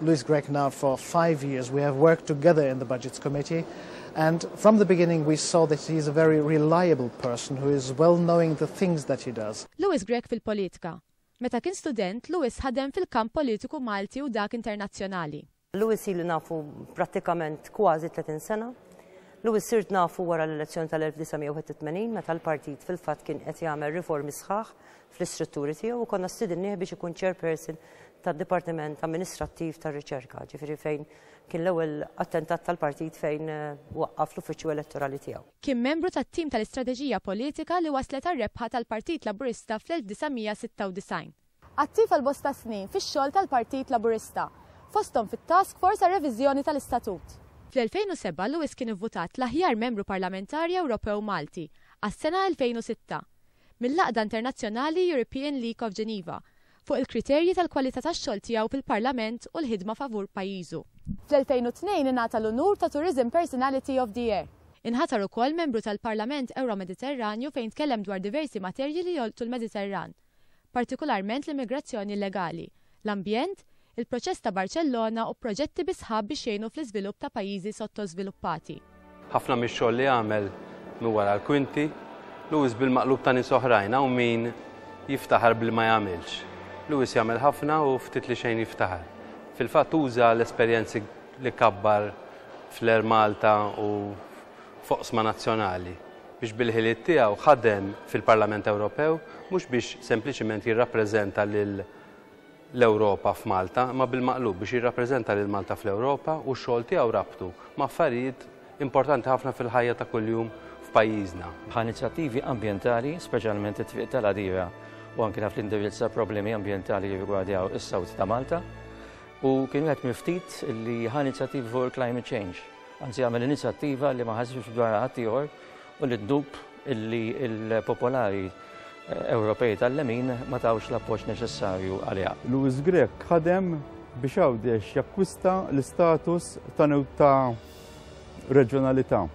Louis Grech now for five years. We have worked together in the Budgets Committee and from the beginning we saw that he is a very reliable person who is well knowing the things that he does. Louis Grech fil-politika. Meta kien student, Louis ħadem fil-kamp politiku Malti u dak internazzjonali. Louis ili nafu prattikament kważi 30 sena. Louis sirt nafu wara l-elezzjoni tal-1981 meta l-partit fil-fatt kien qed jagħmel riformi sħaħ fl-istrutturi tiegħu u konna stidinnieh biex ikun chairperson tad-Dipartiment Amministrattiv tar-Riċerka, ġifieri fejn kien l-ewwel attentat tal-partit fejn eh, waqqaf l-uffiċċju elettorali tiegħu. Kien membru tat-tim tal-istrateġija politika li wasslet għar-rebħa tal-Partit Laburista fl-1996. Attiv għal bosta snin fix-xogħol tal-Partit Laburista, fosthom fit-Task Force għar-Reviżjoni tal-Istatut. Fl-2007 Lewis kien ivvutat l-aħjar membru parlamentari Ewropew Malti għas-sena 2006. mill-Għaqda Internazzjonali European League of Geneva, fuq il-kriterji tal-kwalità tax-xogħol tiegħu fil-Parlament u l-ħidma favur pajjiżu. Fl-2002 ingħata l-unur ta' Tourism Personality of the Year. Inħatar ukoll Membru tal-Parlament Ewro-Mediterranju fejn tkellem dwar diversi materji li jolqtu l-Mediterran, partikularment l-immigrazzjoni illegali, l-ambjent, il-Proċess ta' Barċellona u proġetti bi sħab biex jgħinu fl-iżvilupp ta' pajjiżi sottożviluppati. Ħafna mix-xogħol li għamel minn wara l-kwinti, Lewis bil-maqlub ta' nies oħrajn, hawn min jiftaħar b'li ma jagħmilx. Lewis jagħmel ħafna u ftit li xejn jiftaħar. Fil-fatt uża l-esperjenzi li kabbar fl-Air Malta u f'oqsma nazzjonali biex bil-ħiliet tiegħu ħadem fil-Parlament Ewropew mhux biex sempliċiment jirrappreżenta lil l-Ewropa f'Malta imma bil-maqlub biex jirrappreżenta lil Malta fl-Ewropa u x-xogħol tiegħu rabtu ma' affarijiet importanti ħafna fil-ħajja ta' kuljum f'pajjiżna. Ħa inizjattivi ambjentali, speċjalment it-Triq tal-Għadira u anke naf li indirizza problemi ambjentali li jirrigwardjaw is-South ta' Malta u kien wieħed mill-ftit li ħa inizjattivi fuq il-climate change. anzi għamel inizjattiva li ma ħasibx dwarha ħadd ieħor u li ddub illi l-popolari Ewropej tal-lemin ma tawx l-appoġġ neċessarju għaliha. Louis Grech ħadem biex Għawdex jakkwista l-istatus ta' ta' reġjonalità.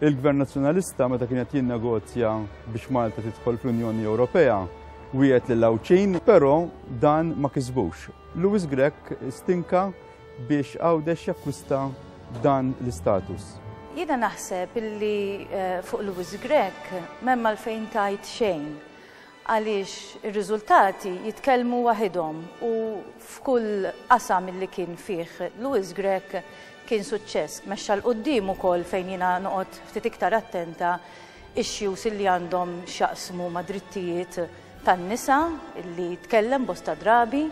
Il-Gvern Nazzjonalista meta kien qed jinnegozja biex Malta tidħol fl-Unjoni Ewropea wieħed lil Għawdxin, però dan ma kisbux. Louis Grech stinka biex Għawdex jakkwista dan l-istatus. Jiena naħseb li fuq Louis Grech m'hemm għalfejn tgħid xejn għaliex ir-riżultati jitkellmu waħidhom u f'kull qasam illi kien fih Louis Grech kien suċċess. Mexxa 'l quddiem ukoll fejn jiena noqgħod ftit iktar attenta issues illi għandhom x'jaqsmu ma' drittijiet tan-nisa li tkellem bosta drabi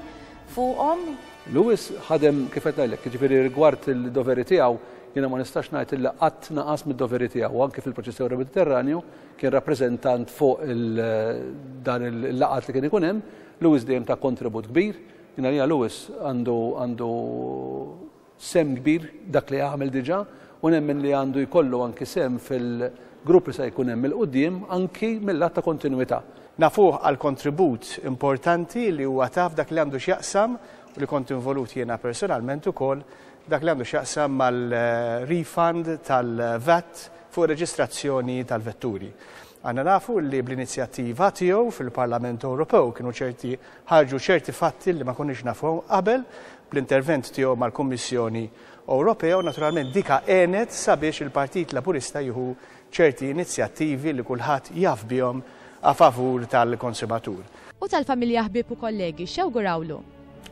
fuqhom. Lewis ħadem kif qed ngħidlek, jiġifieri rigward il-doveri tiegħu, jiena ma nistax ngħid illi qatt naqas mid-doveri tiegħu, anke fil-proċessjoni tal-Mediterranju, kien rappreżentant fuq dan il-laqgħat li kien ikun hemm, Lewis dejjem ta kontribut kbir, jiena għalija Lewis għandu għandu sehem kbir dak li għamel diġà u nemmen li għandu jkollu anki sehem fil-grupp li se jkun hemm il-quddiem anki mil-lat ta' kontinwità. Nafuh għall-kontribut importanti li huwa ta f'dak li għandu x'jaqsam, u li kont involut jiena personalment ukoll, dak li għandu x'jaqsam mal-refund tal-VAT fuq ir-reġistrazzjoni tal-vetturi. Aħna nafu li bl-inizjattiva tiegħu fil-Parlament Ewropew kienu ċerti ħarġu ċerti fatti li ma konniex nafuhom qabel bl-intervent tiegħu mal-Kummissjoni Ewropea u naturalment dika għenet sabiex il-Partit Laburista jieħu ċerti inizjattivi li kulħadd jaf bihom a favur tal-konsumatur. U tal-familja ħbieb u kollegi x'jawgurawlu?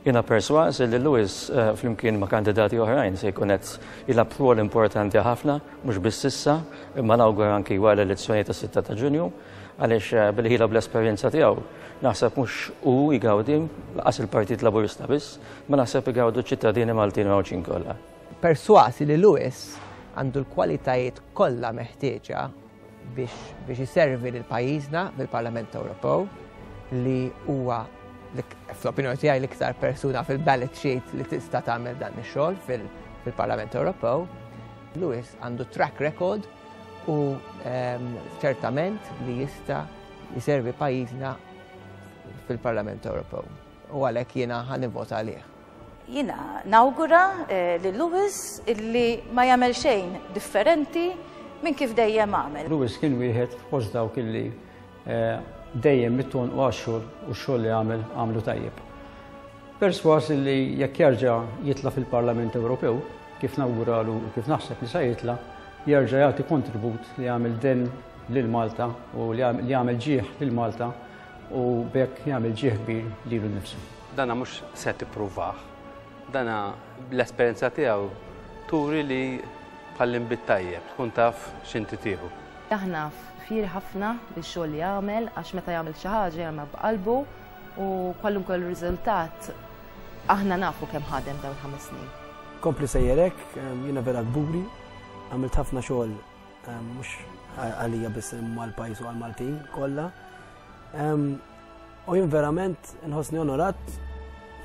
Jiena persważ li Lewis eh, flimkien ma' kandidati oħrajn se jkun qed jilgħab rwol importanti ħafna, mhux biss issa, imma nawgur anki wara l-elezzjoni tas-6 ta' Ġunju, għaliex eh, bil-ħila bl-esperjenza tiegħu naħseb mhux u jgawdi laqas il-Partit Laburista biss, ma naħseb igawdu ċittadini Maltin Mawċin kollha. Perswasi li Lewis għandu l-kwalitajiet kollha meħtieġa biex iservi lil pajjiżna fil-Parlament Ewropew li huwa fl-opinjoni tiegħi l-iktar persuna fil-ballot sheet li tista' tagħmel dan ix-xogħol fil-Parlament Ewropew. Lewis għandu track record u ehm, ċertament li jista' jiservi pajjiżna fil-Parlament Ewropew. U għalhekk jiena ħanivvota għalih. Jiena nawgura lil Lewis illi ma jagħmel xejn differenti minn kif dejjem għamel. Lewis kien wieħed fost dawk illi dejjem mit-tul u għax-xogħol u x-xogħol li għamel għamlu tajjeb. Persważ illi jekk jerġa' jitla' fil-Parlament Ewropew, kif nawguralu u kif naħseb li sa jitla', jerġa' jagħti kontribut li jagħmel denn lil Malta u li jagħmel ġieħ lil Malta, U b'hekk jagħmel ġieħ kbir lilu nnifsu. Dana mhux se tippruvah. Dana l-esperjenza tiegħu turi li bħall-inbi t-tajjeb tkun taf x'inti tieħu. Aħna fieri ħafna bix-xogħol li jagħmel għax meta jagħmel xi ħaġa jagħmilha b'qalbu u kwalunkwe riżultat aħna nafu kemm ħadem dawn il-ħames snin. Kompli sejjer hekk, jiena vera kburi, għamilt ħafna xogħol Mhux għalija biss imma l-pajjiż u għall-Maltin kollha. U jien verament nħossni onorat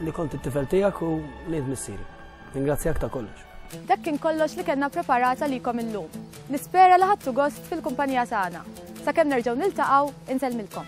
li kont it-tifel tiegħek u li missieri. Ringrazzjak ta' kollox. Dak kien kollox li kellna preparata likom illum. Nispera li ħadtu gost fil-kumpanija tagħna. Sakemm nerġgħu niltaqgħu, insellmilkom.